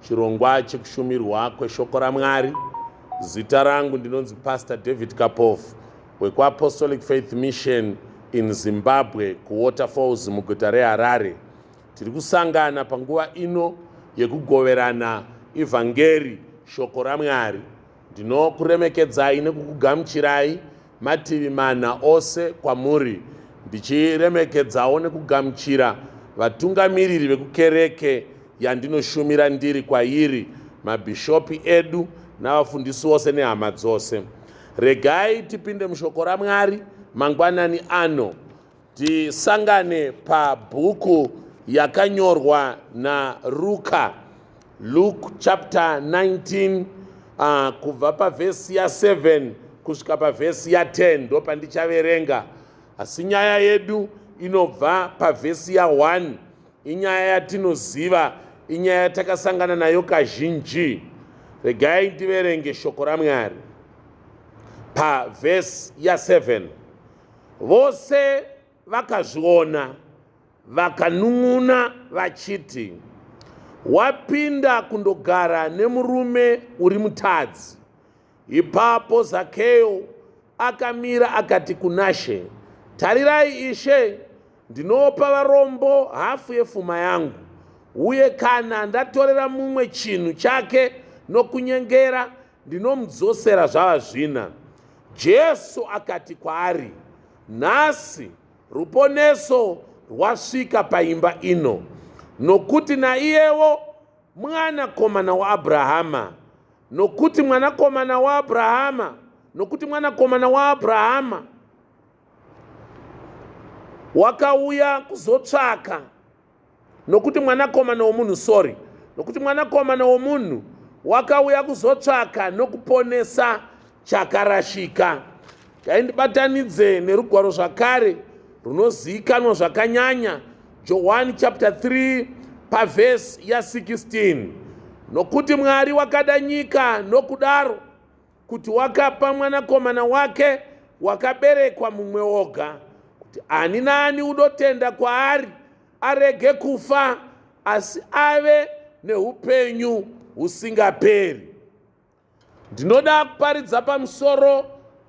Chirongwa chekushumirwa kweshoko raMwari. Zita rangu ndinonzi Pastor David Kapofu wekuApostolic Faith Mission in Zimbabwe kuWaterfalls muguta reHarare. Tiri kusangana panguva ino yekugoverana ivhangeri shoko raMwari. Ndinokuremekedzai nekukugamuchirai mativi mana ose kwamuri ndichiremekedzawo nekugamuchira vatungamiriri vekukereke yandinoshumira ndiri kwairi mabhishopi edu navafundisi vose nehama dzose regai tipinde mushoko ramwari mangwanani ano Tisangane pabhuku yakanyorwa naRuka, Luke chapter 19 uh, ah, kubva pavhesi ya7 kusvika pavhesi ya10 ndo pandichaverenga. Asi nyaya yedu inobva pavhesi ya1 inyaya yatinoziva, inyaya yatakasangana nayo kazhinji. Regai ndiverenge shoko raMwari pavhesi ya7. Vose vakazviona vakanun'una vachiti, Wapinda kundogara nemurume uri mutadzi. Ipapo Zakeo akamira akati kunaShe, Tarirai Ishe, ndinopa varombo hafu yefuma yangu, uye kana ndatorera mumwe chinhu chake nokunyengera, Ndinomudzosera zvava zvina. Jesu akati kwaari, Nhasi ruponeso rwasvika paimba ino, nokuti naiyewo mwanakomana waAbrahama, nokuti mwanakomana waAbrahama, nokuti mwanakomana waAbrahama wakauya kuzotsvaka nokuti mwanakomana womunhu sorry nokuti mwanakomana womunhu wakauya kuzotsvaka nokuponesa chakarashika taindibatanidze nerugwaro zvakare runozivikanwa zvakanyanya johani chapter 3 pavhesi ya16 nokuti mwari wakada nyika nokudaro kuti wakapa mwanakomana wake wakaberekwa mumwe woga kuti ani naani unotenda kwaari arege kufa asi ave neupenyu husingaperi ndinoda kuparidza pamusoro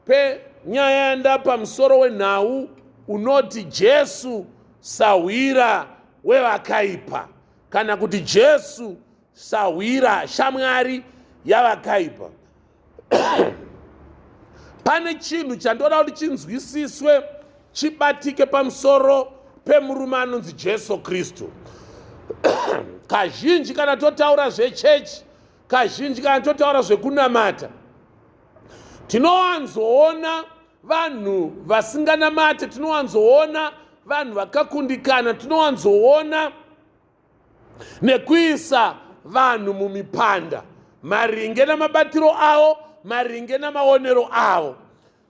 penyaya yanda pamusoro wenhau unoti jesu sahwira wevakaipa kana kuti jesu Sahwira shamwari yavakaipa. Pane chinhu chandoda kuti chinzwisiswe chibatike pamusoro pemurume anonzi Jesu Kristu. Kazhinji kana totaura zvechechi, kazhinji kana totaura zvekunamata, tinowanzoona vanhu vasinganamate, tinowanzoona vanhu vakakundikana, tinowanzoona nekuisa vanhu mumipanda maringe namabatiro avo maringe namaonero avo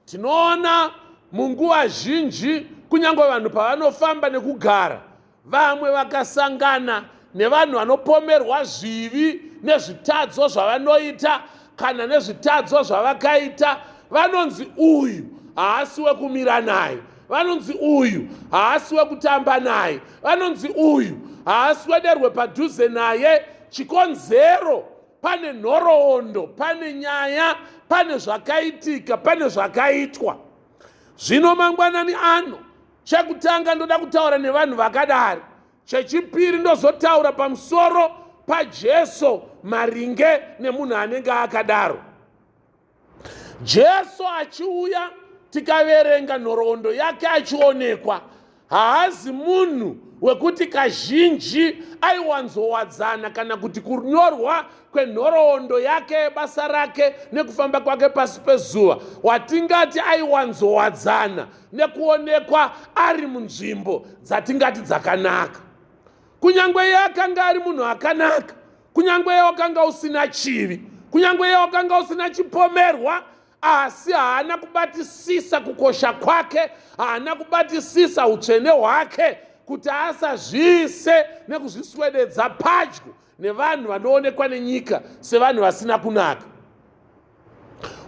tinoona munguva zhinji kunyange vanhu pavanofamba nekugara vamwe vakasangana nevanhu vanopomerwa zvivi nezvitadzo zvavanoita kana nezvitadzo zvavakaita vanonzi uyu haasi wekumira naye vanonzi uyu haasi wekutamba naye vanonzi uyu haasi wederwe padhuze naye chikonzero pane nhoroondo pane nyaya pane zvakaitika pane zvakaitwa zvino mangwanani ano chekutanga ndoda kutaura nevanhu vakadari chechipiri ndozotaura pamusoro pajesu maringe nemunhu anenge akadaro jesu achiuya tikaverenga nhoroondo yake achionekwa haazi munhu wekuti kazhinji aiwanzowadzana kana kuti kunyorwa kwenhoroondo yake yebasa rake nekufamba kwake pasi pezuva watingati aiwanzowadzana nekuonekwa ari munzvimbo dzatingati dzakanaka kunyange iye akanga ari munhu akanaka kunyange iye wakanga usina chivi kunyange iye wakanga usina chipomerwa asi haana kubatisisa kukosha kwake haana kubatisisa utsvene hwake kuti asazviise nekuzviswededza padyo nevanhu vanoonekwa nenyika sevanhu vasina kunaka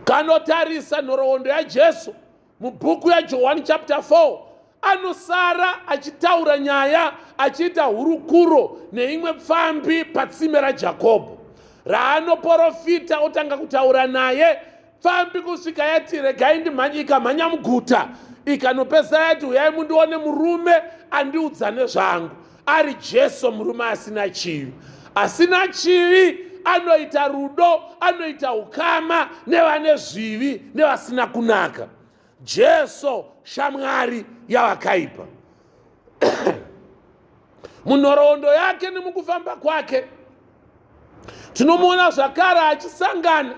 kanotarisa nhoroondo yajesu mubhuku yajohwani chapter 4 anosara achitaura nyaya achiita hurukuro neimwe pfambi patsime rajakobho raanoporofita otanga kutaura naye pfambi kusvika yati regai ndimhanye ikamhanya muguta ikanopesera yati huyai mundione murume andiudza nezvangu ari Jesu murume asina chivi. Asina chivi anoita rudo, anoita ukama nevane zvivi nevasina kunaka. Jesu shamwari yavakaipa. Munhoroondo yake nemukufamba kwake tinomuona zvakare achisangana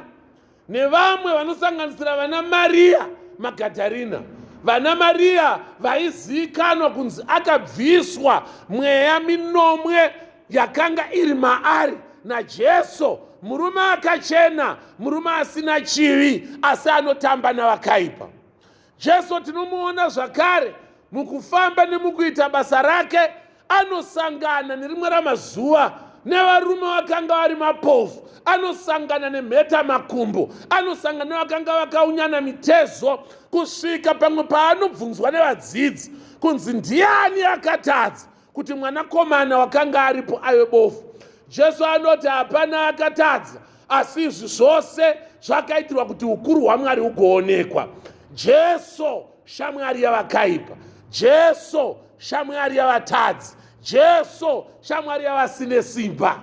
nevamwe vanosanganisira vana mariya magadharina vana mariya vaizivikanwa kunzi akabviswa mweya minomwe yakanga iri maari najesu murume akachena murume asina chivi asi anotamba navakaipa Jesu tinomuona zvakare mukufamba nemukuita basa rake anosangana nerimwe ramazuva nevarume vakanga vari mapofu anosangana nemheta makumbo anosangana nevakanga vakaunyana mitezo kusvika pamwe paanobvunzwa nevadzidzi kunzi ndiani akatadza kuti mwanakomana wakanga aripo aive bofu jesu anoti hapana akatadza asi izvi zvose zvakaitirwa kuti ukuru hwamwari hugoonekwa jesu shamwari yavakaipa jesu shamwari yavatadzi jesu shamwari yavasine simba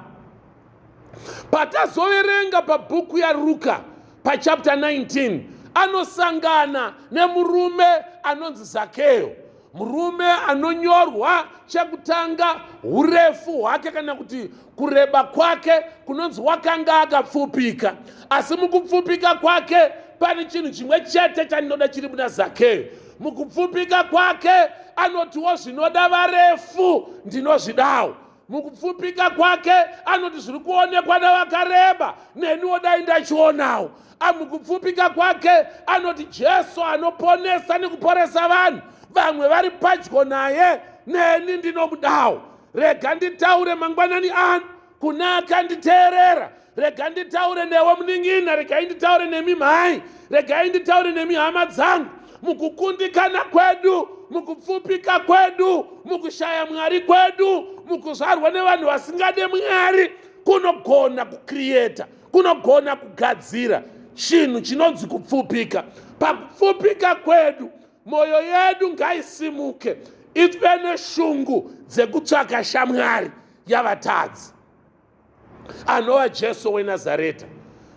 patazoverenga pabhuku yaruka pachapta 19 anosangana nemurume anonzi zakeyo Murume anonyorwa chekutanga urefu hwake kana kuti kureba kwake kunonzi wakanga akapfupika, asi mukupfupika kwake pane chinhu chimwe chete chandinoda chiri muna Zakeo. Mukupfupika kwake anotiwo zvinoda varefu ndinozvidawo. mukupfupika kwake anoti zviri kuonekwa nevakareba neniwo dai ndachionawo amukupfupika kwake anoti jesu anoponesa nekuporesa vanhu vamwe vari padyo naye neni ndinomudawo rega nditaure mangwanani ano kuna akanditeerera rega nditaure newe munin'ina regai nditaure nemi mhai regai nditaure nemi hama dzangu mukukundikana kwedu mukupfupika kwedu mukushaya mwari kwedu mukuzvarwa nevanhu vasingade mwari kunogona kukriyeta kunogona kugadzira chinhu chinonzi kupfupika pakupfupika kwedu mwoyo yedu ngaisimuke ive neshungu dzekutsvaka shamwari yavatadzi anova jesu wenazareta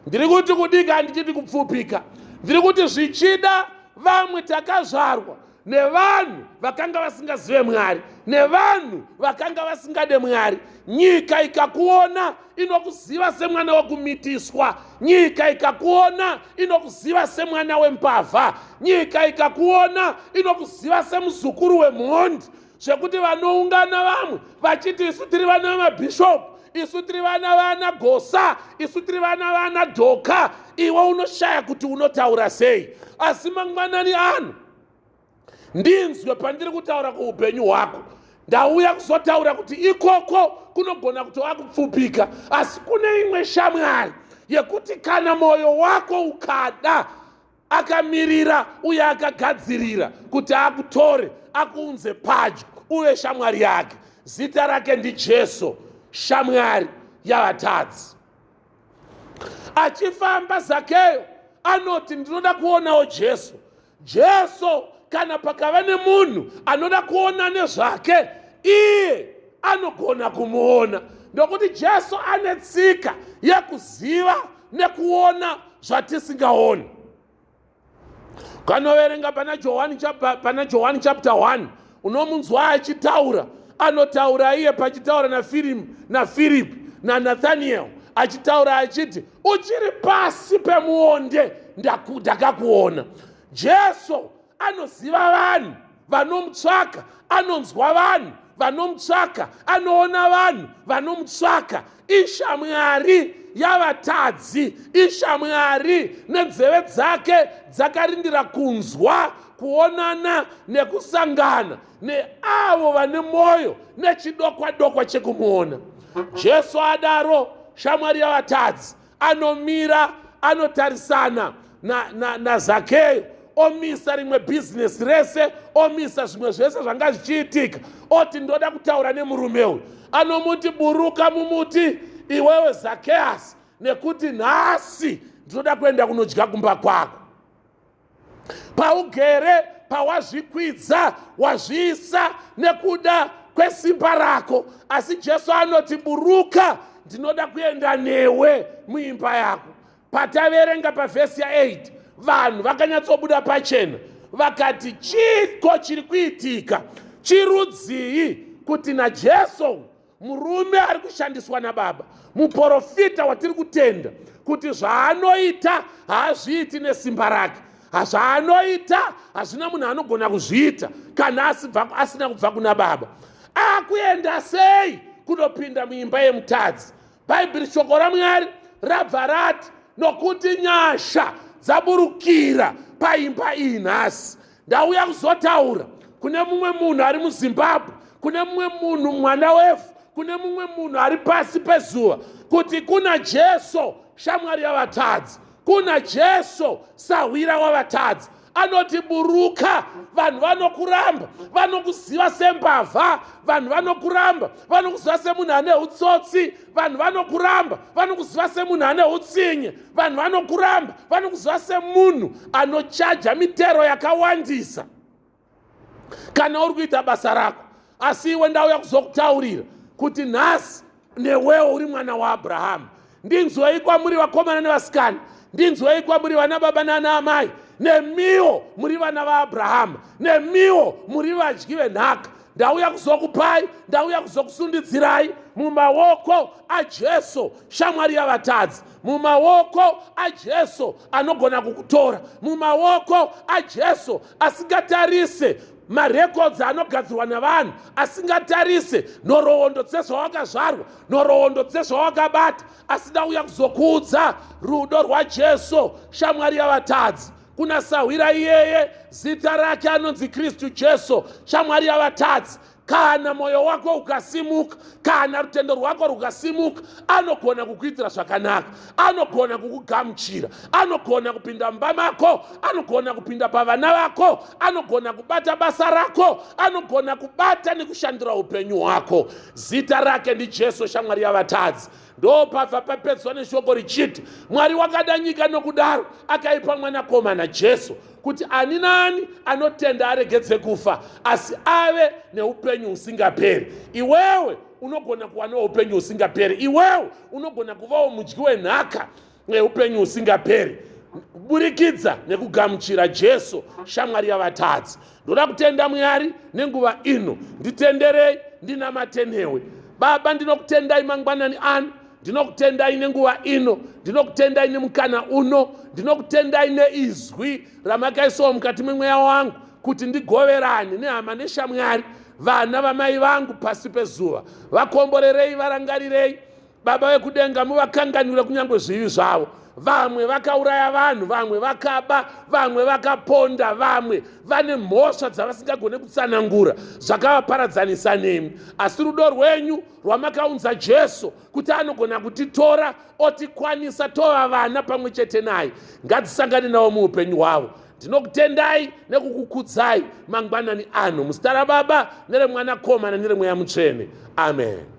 ndiri kuti kudika handichiti kupfupika ndiri kuti zvichida vamwe takazvarwa nevanhu vakanga vasingazive mwari nevanhu vakanga vasingade mwari nyika ikakuona inokuziva semwana wekumitiswa nyika ikakuona inokuziva semwana wembavha nyika ikakuona inokuziva semuzukuru wemhondi we zvekuti vanoungana vamwe vachiti isu tiri vana vamabhishopu isu tiri vana vana gosa isu tiri vana vana dhoka iwe unoshaya kuti unotaura sei asi mangwanani ano ndinzwe pandiri kutaura kuupenyu hwako ndauya kuzotaura kuti ikoko kunogona kuti wakupfupika asi kune imwe shamwari yekuti kana mwoyo wako ukada akamirira uye akagadzirira kuti akutore akuunze padyo uve shamwari yake zita rake ndijesu shamwari yavatadzi achifamba zakeyo anoti ndinoda kuonawo jesu jesu kana pakava nemunhu anoda kuona nezvake iye anogona kumuona ndokuti jesu ane tsika yekuziva nekuona zvatisingaoni kanoverenga pana johani pana johani chapter 1 unomunzwa achitaura anotaura iye pachitaura nafirimu nafiripi nanathaniel achitaura achiti uchiri pasi pemuonde ndakakuona jesu anoziva vanhu vanomutsvaka anonzwa vanhu vanomutsvaka anoona vanhu vanomutsvaka ishamwari yavatadzi ishamwari nenzeve dzake dzakarindira kunzwa kuonana nekusangana neavo vane mwoyo nechidokwadokwa chekumuona jesu adaro shamwari yavatadzi anomira anotarisana nazakeyo na, na omisa rimwe bhizinesi rese omisa zvimwe zvese zvanga zvichiitika oti ndoda kutaura nemurume uyu anomuti buruka mumuti iwewe zakeyasi nekuti nhasi ndinoda kuenda kunodya kumba kwako paugere pawazvikwidza wazviisa nekuda kwesimba rako asi jesu anoti buruka ndinoda kuenda newe muimba yako pataverenga pavhesi ya8 vanhu vakanyatsobuda pachena vakati chiko chiri kuitika chirudzii kuti najesu murume ari kushandiswa nababa muporofita watiri kutenda kuti zvaanoita haazviiti nesimba rake hazvaanoita hazvina munhu anogona kuzviita kana asina kubva kuna baba akuenda sei kunopinda muimba yemutadzi bhaibheri shoko ramwari rabva rati nokuti nyasha dzaburukira paimba iyi nhasi ndauya kuzotaura kune mumwe munhu ari muzimbabwe kune mumwe munhu mwana wevhu kune mumwe munhu ari pasi pezuva kuti kuna jesu shamwari yavatadzi kuna jesu sahwira wavatadzi anoti buruka vanhu vanokuramba vanokuziva sembavha vanhu vanokuramba vanokuziva semunhu ane utsotsi vanhu vanokuramba vanokuziva semunhu ane utsinye vanhu vanokuramba vanokuziva semunhu anochaja mitero yakawandisa kana uri kuita basa rako asi iwe ndauya kuzokutaurira kuti nhasi newewo uri mwana waabrahamu ndinzwei kwamuri vakomana nevasikana ndinzwei kwamuri vana baba naana amai nemiwo muri vana vaabrahamu nemiwo muri vadyi venhaka ndauya kuzokupai ndauya kuzokusundidzirai mumaoko ajesu shamwari yavatadzi mumaoko ajesu anogona kukutora mumaoko ajesu asingatarise marekodzi anogadzirwa navanhu asingatarise nhoroondo dzezvawakazvarwa nhoroondo dzezvawakabata asi ndauya kuzokuudza rudo rwajesu shamwari yavatadzi kuna sahwira iyeye zita rake anonzi kristu jesu shamwari yavatadzi kana mwoyo wako ukasimuka kana rutendo rwako rukasimuka anogona kukuitira zvakanaka anogona kukugamuchira anogona kupinda mumba mako anogona kupinda pavana vako anogona kubata basa rako anogona kubata nekushandira upenyu hwako zita rake ndijesu shamwari yavatadzi ndopabva papedzwa neshoko richiti mwari wakada nyika nokudaro akaipa mwanakomana jesu kuti ani naani anotenda aregedze kufa asi ave neupenyu husingaperi iwewe unogona kuwanawo upenyu husingaperi iwewe unogona kuvawo mudyi wenhaka neupenyu husingaperi kuburikidza nekugamuchira jesu shamwari yavatadzi ndoda kutenda mwari nenguva ino nditenderei ndinamatenewe baba ndinokutendai mangwanani ano ndinokutendai nenguva ino ndinokutendai nemukana uno ndinokutendai neizwi ramakaisawo mukati memweya wangu kuti ndigoverane nehama neshamwari vana vamai vangu pasi pezuva vakomborerei varangarirei baba vekudenga muvakanganwire kunyange zvivi zvavo vamwe vakauraya vanhu vamwe vakaba vamwe vakaponda vamwe vane mhosva dzavasingagone kutsanangura zvakavaparadzanisa nemi asi rudo rwenyu rwamakaunza jesu kuti anogona kutitora otikwanisa tova vana pamwe chete naye ngadzisangane navo muupenyu hwavo ndinokutendai nekukukudzai mangwanani ano muzita rababa neremwanakomana neremweya mutsvene amen